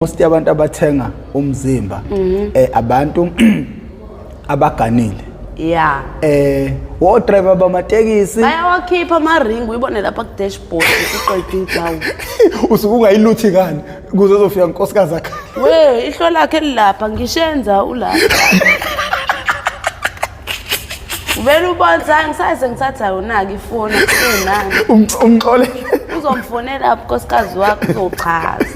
Most abantu abathenga umzimba mhm. eh abantu abaganile. Yeah. Eh wo driver bamatekisi bayawakhipha ama ring uyibone lapha ku dashboard uqeda indawo. Usuke ungayiluthi kani kuze uzofika nkosikazi akhe. We ihlo lakhe lilapha ngishenza ulapha. Uvele ubona ukuthi hayi ngisaze ngithatha yona-ke ifoni kunani. Ung- Ungixolele. Uzomfonela unkosikazi wakho uzochaza.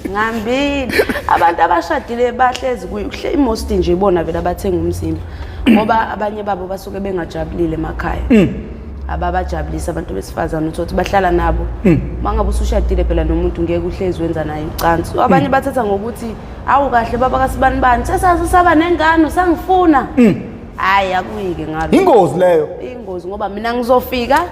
Ngihambile. Abantu abashadile bahlezi kuyo. Kuhle i-most nje ibona vele abathenga umzimba. Ngoba abanye babo basuke bengajabulile emakhaya. ababajabulisa abantu besifazane uthi ukuthi bahlala nabo uma ngabe usushadile phela nomuntu ngeke uhlezi wenza naye ucansi abanye bathatha ngokuthi awu kahle baba kasibani bani sesazi usaba nengane usangifuna Mm. hayi akuyike ngalo Ingozi leyo. ingozi ngoba mina ngizofika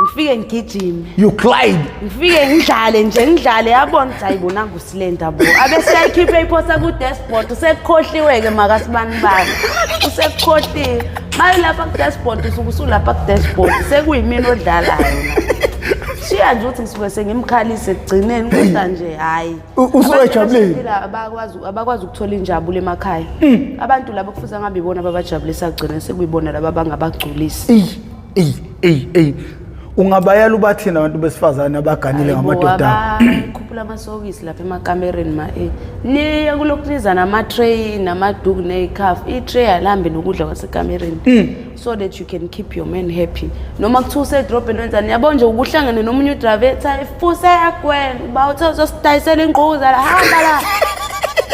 ngifike ngigijime You cried. ngifike ngidlale nje ngidlale yabona ukuthi hayi bona ngusilenda bo abe siyayikhipha iphosa ku-dashboard usekukhohliwe-ke makasibani bani usekukhohliwe maye lapha ku-dashboard usuke usulapha ku-dashboard sekuyimina odlalayo la. shiya nje ukuthi ngisuke sengimkhalise ekugcineni kodwa nje hhayi usuke ejabulile Phela abakwazi abakwazi ukuthola injabulo emakhaya Mm. abantu labo kufuze ngabe ibona babajabulisa kugcina sekuyibona laba bangabagculisi eyi eyi eyi eyi ungabayala ubathini abantu besifazane abaganile ngamadoda khuphula amasokisi lapha emakamereni ma e niya kulokhu niza nama-tray namaduku neyikhafu i-tray alihambe nokudla kwasekamereni so that you can keep your man happy noma kuthiwa usedrobheni wenzani yabo nje ubuhlangene nomunye udrave ethi hayi fuse yakwen uba uthe uzositayisela ingquza la hamba la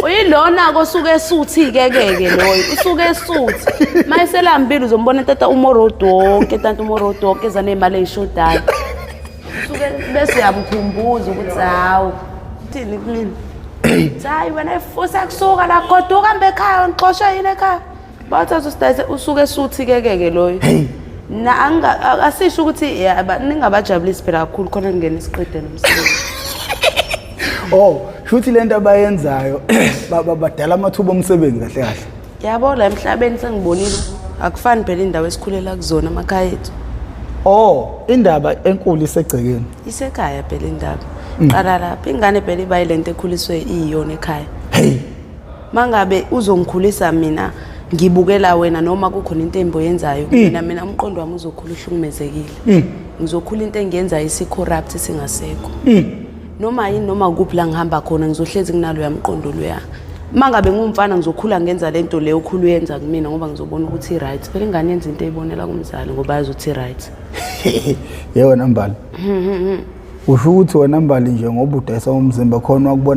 uyilona-ke osuke esuthi-ke keke loyo usuke esuthi uma eselambile uzombona tata umorodo wonke tata umorodo wonke eza ney'mali ey'shodayo usuke bese uyamkhumbuza ukuthi hawu thini kumina hayi wena efusa kusuka la goduka mbe ekhaya ngixoshwe yini ekhaya Bathatha usidayise usuke esuthikekeke loyo. Hey. Na anga- a- asisho ukuthi ya, ba- ningabajabulisi phela kakhulu khona kungena isiqede nomsebenzi. Oh, shuthi lento abayenzayo ba- ba- badala amathuba omsebenzi kahle kahle. Yabo la emhlabeni sengibonile ukuthi akufani phela indawo esikhulela kuzona amakhaya ethu. Oh, indaba enkulu isegcekeni. Isekhaya phela indaba. Qala lapha ingane phela ibayilento ekhuliswe iyona ekhaya. Hey. mangabe uzongikhulisa mina ngibukela wena noma kukhona into embi oyenzayo mm. mina mina umqondo wami uzokhula uhlukumezekile mm. ngizokhula into engiyenzayo isicorrupt singasekho mm. noma yini noma kuphi la ngihamba khona ngizohlezi nginaloya mqondo loya uma ngabe ngumfana ngizokhula ngenza le nto leyo ukhulu uyenza kumina ngoba ngizobona ukuthi i-right phela ingane yenza into eyibonela kumzali ngoba yazi ukuthi i-right ye wena mbali usho ukuthi wena mbali nje ngoba udayisa umzimba khona wakubona